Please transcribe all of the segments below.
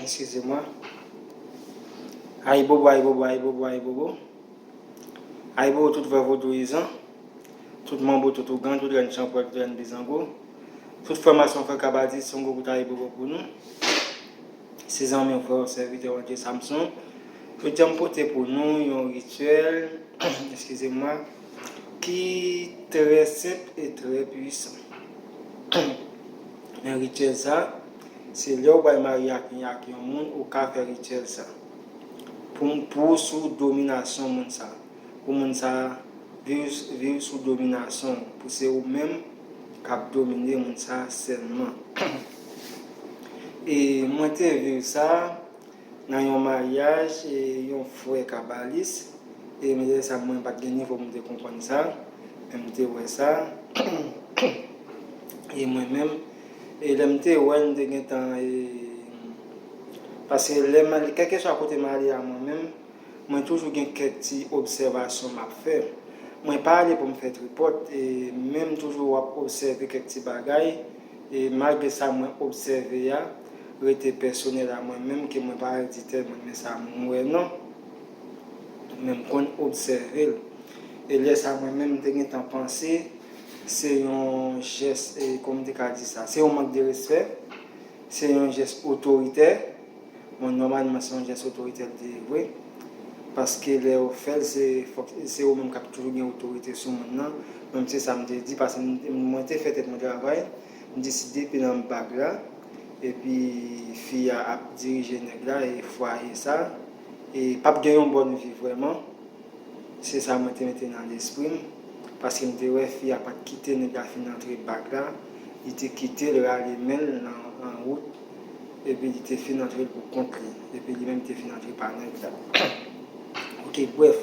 Eskizemwa. Ayibobo, ayibobo, ayibobo, ayibobo. Ayibobo tout vre vodouyizan, tout manbo, tout ougan, tout rèn chanpwèl, tout rèn bizango, tout frè mason, frè kabadis, yon gwo kout ayibobo pou nou. Se zanmiw, frèw, sèvitèw André Samson. Jodi a m pote pou nou yon rityèl, eskizemwa. Ki trè senp e trè pwisan. Men rityèl sa, se lè ou bay marye ak ni ak yon moun ou ka fè rityèl sa. Pou pou ou sou dominasyon moun sa. Pou moun sa viv viv sou dominasyon ou. Pou se ou menm kap domine moun sa sèlman. E mwen te viv sa. Nan yon maryaj yon frè kabalis e mwen te wè sa mwen pat gen nivo pou m te konprann sa men m te wè sa e mwen menm e lè m te wè n te gentan e paske lè m ale kèlkeswa kote m ale a mwen menm mwen toujou gen kèk ti obsèvasyon m ap fè mwen pa ale pou m fè tripòt e menm toujou w ap obsève kèk ti bagay. E malgre sa mwen obsève a rete pèsonèl a mwen menm ke mwen pa al di tèlman men sa m wè non. Men m konn obsève l. E lè sa mwen menm m te gentan panse se yon jès, kòman m te ka di sa, se yon mank de respè, se yon jès otoritè. Bon nòmalman se yon jès otoritè li te ye vre paske lè yo fè l se fòk se yo menm k ap toujou gen otorite sou moun nan men m se sa m te di pase mwen te fè tèt mwen travay m di si depi nan bag la epi fi a ap dirije nèg la e fwaye sa e p ap gen yon bòn vi vrèman se sa mwen te mete nan lespri m paske m te wè fi a pa t kite nèg la fin antre bag la li te kite l rale men l nan wout. epi li te fin antre pou kont li, epi li menm te fin antre pa nèg la ok brèf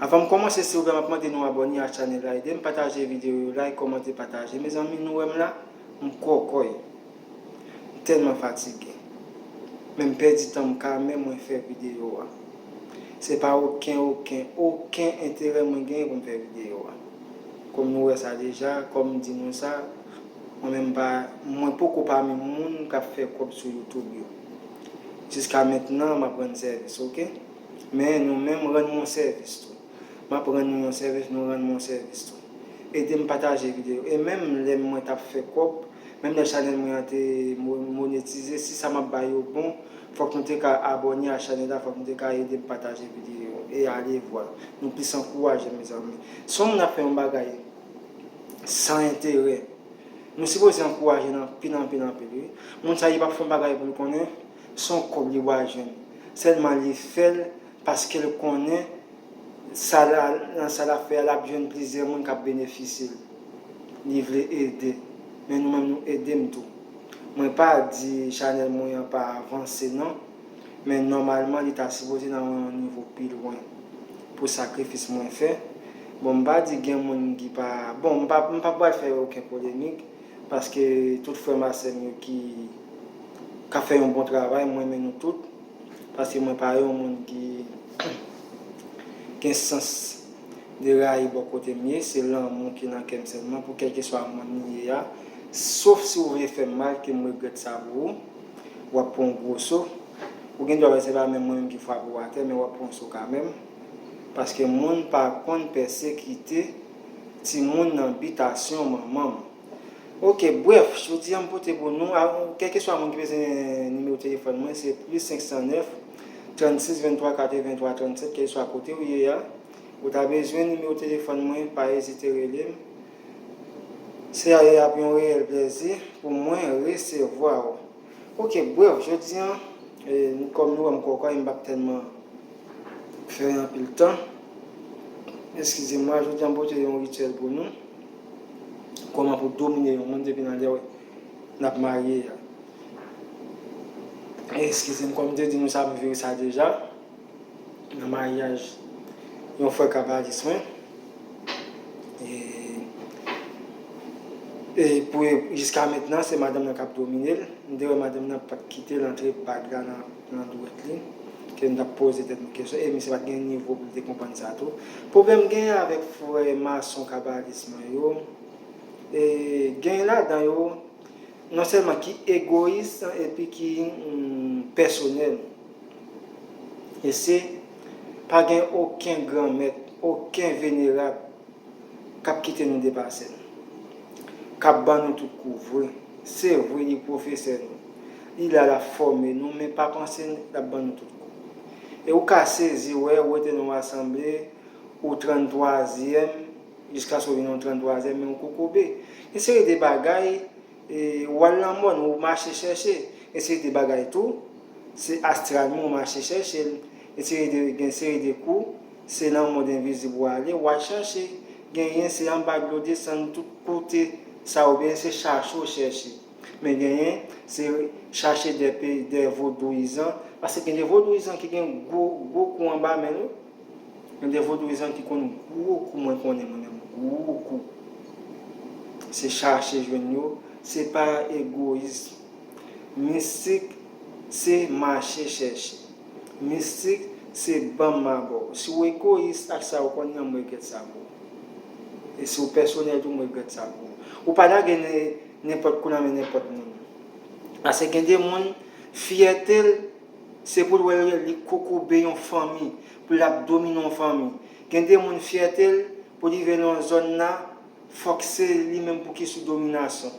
avan m kòmanse silvouplè map mande nou abòne a chanèl la edem pataje videyo yo like kòmante pataje mezanmi nou wèm la m kòkòy m tèlman fatige men m pèdi tan m ka men mwen fè videyo a se pa oken oken oken enterè mwen genyen pou m fè videyo a kòm nou wè sa deja kòm m di nou sa. Mwen menm pa mwen poko pami moun kap fè kòb sou youtube yo jiska mentnan map rann sèvis ok men nou menm rann mwen sèvis tou map rann nou yon sèvis nou rann mwen sèvis tou edem pataje video e menm lè mwen tap fè kòb menm lè chanèl mwen an te monetize si sa map bay yo bon fòk nou te ka abòne a chanèl la fòk nou te ka edem pataje video e alevwa nou plis ankouraje mezanmi son moun ap fè yon bagay San enterè. Nou sipoze ankouraje l anpil anpil anpil wi. Moun sa li pa fon bagay pou l konnen son kòb li bwal jwenn. Sèlman li fè l paske l konnen sa l nan sa lap fè a lap jwenn plizyè moun kap benefisye l. Li vle ede. Men nou menm nou ede m tou. Mwen pa di chanèl mwen an pa avanse non. Men nòmalman li ta sipoze nan yon nivo pi lwen pou sakrifis mwen fè. Bon m pa di gen moun ki pa, bon m pa m pa pral fè oken polemik paske tout frè m a sè m yo ki k ap fè yon bon travay m renmen nou tout paske mwen pa yon moun ki gen sans de rayi bò kote m ye, se lanmou ki nan kè m sèlman pou kèlkeswa moun m ye a, sof si ou vle fè m mal ke m regrèt sa pou ou. wap pran yon gwo so, ou gen dwa wè se pa menm mwen menm ki frape w atè men wap pran yon so ka menm, paske moun pa konn pèsekite timoun nan bitasyon manman m. Ok, brèf, jodi a m pote pou nou, kèlkeswa moun ki bezwen nimewo telefòn mwen se plis 509, 36 23 83 37 kèlkeswa kote ou ye a, ou ta bezwen nimewo telefòn mwen pa ezite rele m. Cia ap yon reyèl plèzi pou mwen resevwa ou. Ok bruh jodi an kòm nou wèm kòkòy m pap tèlman fè anpil tan eskize mwa jodi an m pote yon rityèl pou nou kòman pou domine yon moun depi nan lè nap marye a eskize m kòm m te di nou sa m viv sa deja. Nan maryaj yon frè kabalis mwen e pou jiska mentnan se madanm nan kap domine l, m te wè madanm nan pat kite l antre bag la nan dwèt li ke nou tap poze tèt nou kesyon e misye pat gen nivo pou l te konprann sa tou. Pwoblèm m genyen avèk frè mason kabalis mwen yo e genyen ladan yo Non sèlman ki egoyis epi ki pèsonèl. E se, pa gen oken granmèt, oken venerab k ap kite nou depase l. K ap ban nou tout kou vre. Se vre li pwofesè nou, li la l ap fòme nou men pa panse n l ap ban nou tout kou. E ou ka sezi wè ou rete nan yon asanble, ou tranntwazyèm, Jiska sou yon 33 zè men ou kokobe. Yon seri de bagay ou al nan mòn ou mache chèche. Yon seri de bagay tou se astral men ou mache chèche l. Yon seri de gen seri de kou se nan mond envizib ou ale ou al chèche. Genyen se anba dlo desann tout kote sa oubyen se chache ou chèche. Men genyen se chache dè pe dè vodouyizan. Pase gen de vodouyizan ki gen gwo gwo kou anba men yo. Yon de vodouyizan ki konn gwo kou mwen konnen mwen menm gwo kou se chache jwenn yo se pa egoyism mistik se mache chèche mistik se banm ma ba w si w ekoyis ak sa ou konn nan m regrèt sa pou ou e si w pèsonèl tou m regrèt sa pou ou ou pa lage nenpòt kou nan men nenpòt moun pase gen de moun fyète l Se poul wè yo ye li kokobe yon fanmi pou lap domine yon fanmi gen de moun fyète l pou li veye nan zòn nan fòk se li menm pouki sou dominasyon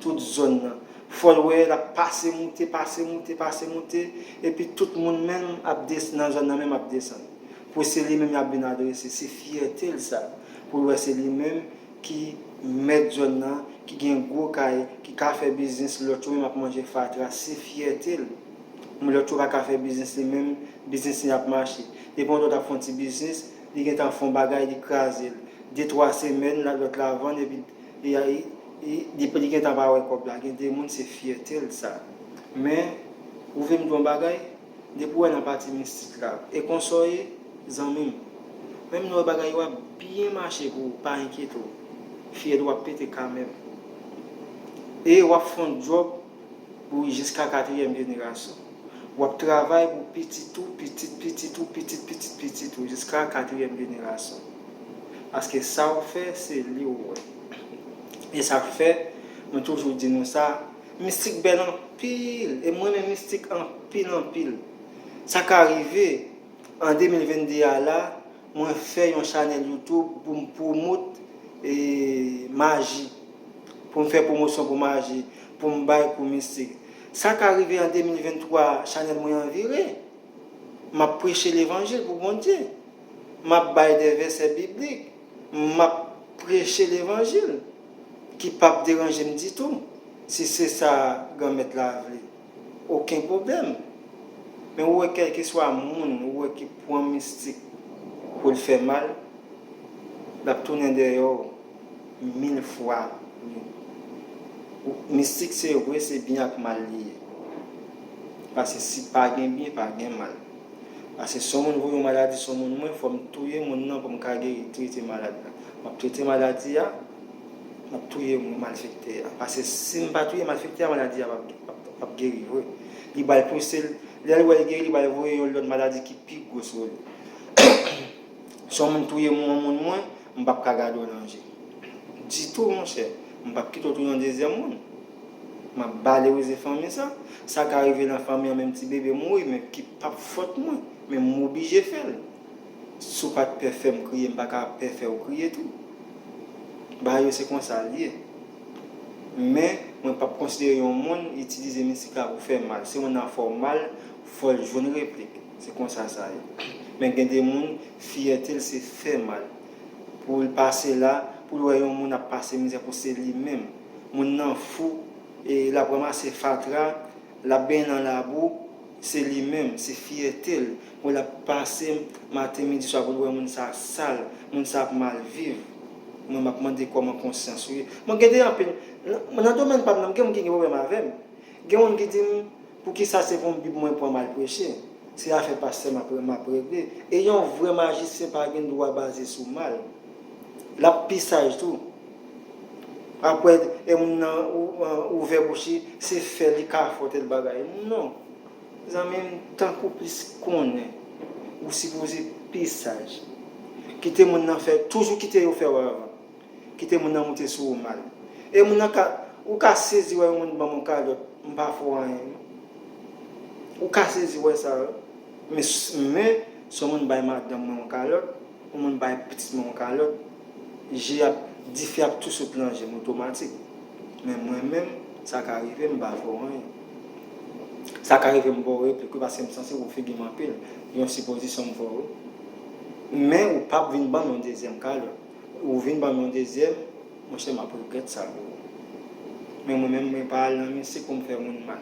tout zòn nan fòl wè lap pase moute pase moute pase moute epi tout moun menm ap des nan zòn nan menm ap desann pou se li menm yap vin adrese se fyète l sa poul wè se li menm ki mèt zòn nan, ki gen gwo kay, ki ka fè biznis, lòt yo menm ap manje fatra, se fyète l. Men lòt yo pa ka fè biznis li menm, biznis li ap mache. Depi yon lòt ap fè yon ti biznis, li gen tan fè yon bagay, li kraze l. De twa semèn, lòt la vann epi li gen tan pa wè kòb la. Gen de moun se fyète l sa. Men, ou vle m di w yon bagay? Depi w wè nan pati mistik la e konsa w ye zanmi m. Menm lè w wè bagay yo ap byen mache pou ou pa enkyete w. Fyèl ou ap pete kanmenm. E w ap fè yon djòb pou ou jiska katriyèm jenerasyon. W ap travay pou pitit ou, pitit pitit ou, pitit pitit pitit ou jiska katriyèm jenerasyon. Paske sa w fè se li w wè. E sa k fè mwen toujou di nou sa. Mistik bèl anpil e m renmen mistik anpil anpil. Sa ka rive an 2022 a la mwen fè yon chanèl youtube pou m pwomot maji, pou m fè pwomosyon pou maji, pou m bay kou mistik. Sa ka rive an 2023 a chanèl mwen an vire, m ap preche levanjil pou Bondye, m ap bay de vèsè biblik, m ap preche levanjil. Ki pap deranje m ditou. Si se sa Granmèt la vle. Oken pwoblèm. Men ou wè kèlkeswa moun ou wè ki pran mistik pou l fè mal, l ap tounen dèyè w mil fwa wi. Mistik se vre se byen ak mal li ye. Pase si pa gen byen pa gen mal. Ase son moun voye yon maladi sou moun mwen fòm touye moun nan poum ka geri trete malad la map trete maladi a map touye malfektè a pase sim pa touye malfektè a maladi a pap geri vre li bay pouse l lèl wèl geri li bay voye yon lòt maladi ki pi gwo sou li son moun touye moun moun mwen mpap ka gade w nan je ditou monchè mpap kite w touye yon dezyèm moun. Map balerize fanmi sa. Sa ka rive nan fanmi an menm ti bebe mouri men ki pap fòt mwen men m oblije fèl. Si w pat pè fèm kriye m paka pè fèw kriye tou. Bagay yo se konsa l ye. Men mwen pap konsidere yon moun itilize misik la pou fè mal. Si yon moun nan fè w mal fò l jwenn replik. Se konsa sa ye. Men gen de moun fyète l se fè mal. Pou l pase la pou l wè yon moun ap pase mizè pou se li menm. Moun nan fou e lap ranmase fatra, lap benyen nan labou, se li menm, se fyète l, bon lap pase maten midi swa pou l wè moun sa sal, moun sa ap mal viv, mwen map mande kòman konsyans ou ye. Bon gen de anpil, nan domèn pam nan gen moun ki gen pwoblèm avèm, gen moun ki dim. Poukisa se pou bib mwen pran mal preche? Se afè pastè map regle e yon vrè majisyen pa gen dwa baze sou mal. Lap pi saj tou. Aprè e moun nan ouvè bouch li se fè li kafòtè l bagay. Non. Zanmi m tankou plis konnen ou sipoze pi saj. Kite moun nan fè, toujou kite yo fè w avan. Kite moun nan moute sou ou mal. E moun nan ka, ou ka sezi wè yon moun banm yon kalòt, m pa fè w anyen non. Ou ka sezi wè sa wi. Men, men, si yon moun bay madanm mwen yon kalòt, yon moun bay pitit mwen yon kalòt, je ap, dife ap tou sot lan je m otomatik. Men mwen menm, sa ka rive m pa fè w anyen. Sa ka rive m ba w replik wi paske m sansib ou figi m anpil. Yon sipozisyon m fè w wi. Men ou pap vin banm yon dezyèm kalòt. Ou vin banm yon dezyèm monchè map regrèt sa bro men mwen menm mwen pa al nan misik poum fè moun mal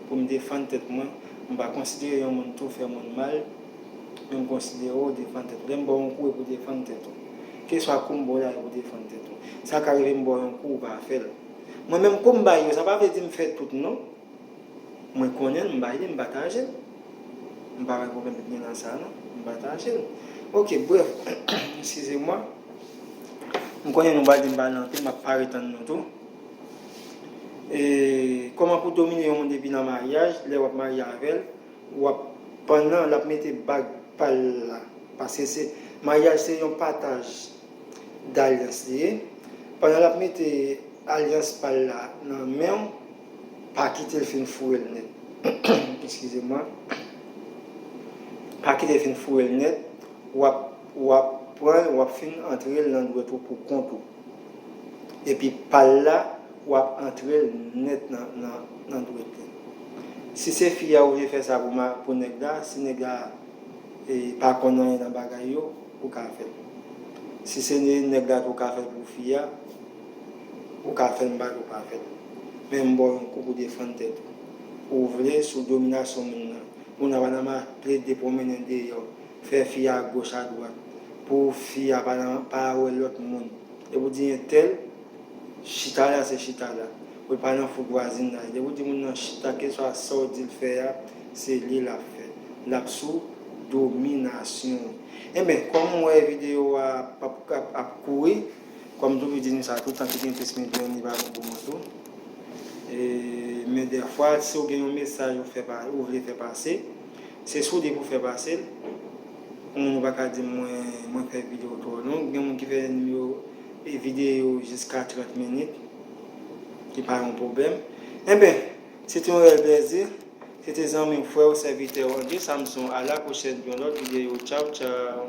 poum defann tèt mwen m pa konsidere yon moun tou fè moun mal men m konsidere w defann tèt ou lèm baw yon kou e pou defann tèt ou keswa koum baw la e pou defann tèt ou sa ka rive m baw yon kou ou pa fèl mwen menm koum bay yo sa pa vle di m fè tout non. Mwen konnenl m bay li m patajel m pa wè pwoblèm ki gen nan sa non m patajel ok brèf eskize mwa m konnen nou pral di m pale anpil map pare tann nou tou e kòman pou domine yon moun depi nan maryaj lè wap marye avèl wap pandan lap mete bag pal la paske se maryaj se yon pataj dalyans li ye pandan lap mete alyans pal la nan menw Pa kite fin foure l nèt. Eskize mwen. Pa kite fin foure l nèt, wap wap pran l wap fin antre l nan dwèt ou pou kont ou. Epi pal la wap antre l nèt nan dwèt li. Si se fi a ou vle fè sa pou nèg la, si nèg la pa konn anyen nan bagay yo, ou ka fè l. Si se nèg la tou ou ka fè l pou fi a. Ou ka fèm bak ou pa fèl men m baw yon kou pou defann tèt ou. Ou vle sou dominasyon moun nan. Moun nan pa nan ma plede pwomennen deyò fè fi a goch a dwat pou fi a pa nan pa wè lòt moun depi ou di entèl chita la se chita la pou l pa nan fout vwazinaj depi ou di moun nan chita keswa sa w di l fè a se li l ap fè l ap sou dominasyon w. Enben kòm m wè videyo a pap ap kouri Kòm m toujou di nou sa, toutan ki gen plis men deyò ni pa bon pou moun tou. Men dèfwa si w gen yon mesaj ou fè pa, ou vle fè pase, se soude pou w fè pase l. Pou moun ou pa ka di m mwen, mwen fè videyo twò long. Gen moun ki fè nimewo, e videyo jiska 30 minit, ki pa yon pwoblèm. Enben, se te yon rèl plèzi. Se te zanmi w, frè w, sèvitè w André Samson. A la pwochèn pou yon lòt videyo. Tchaw tchaw!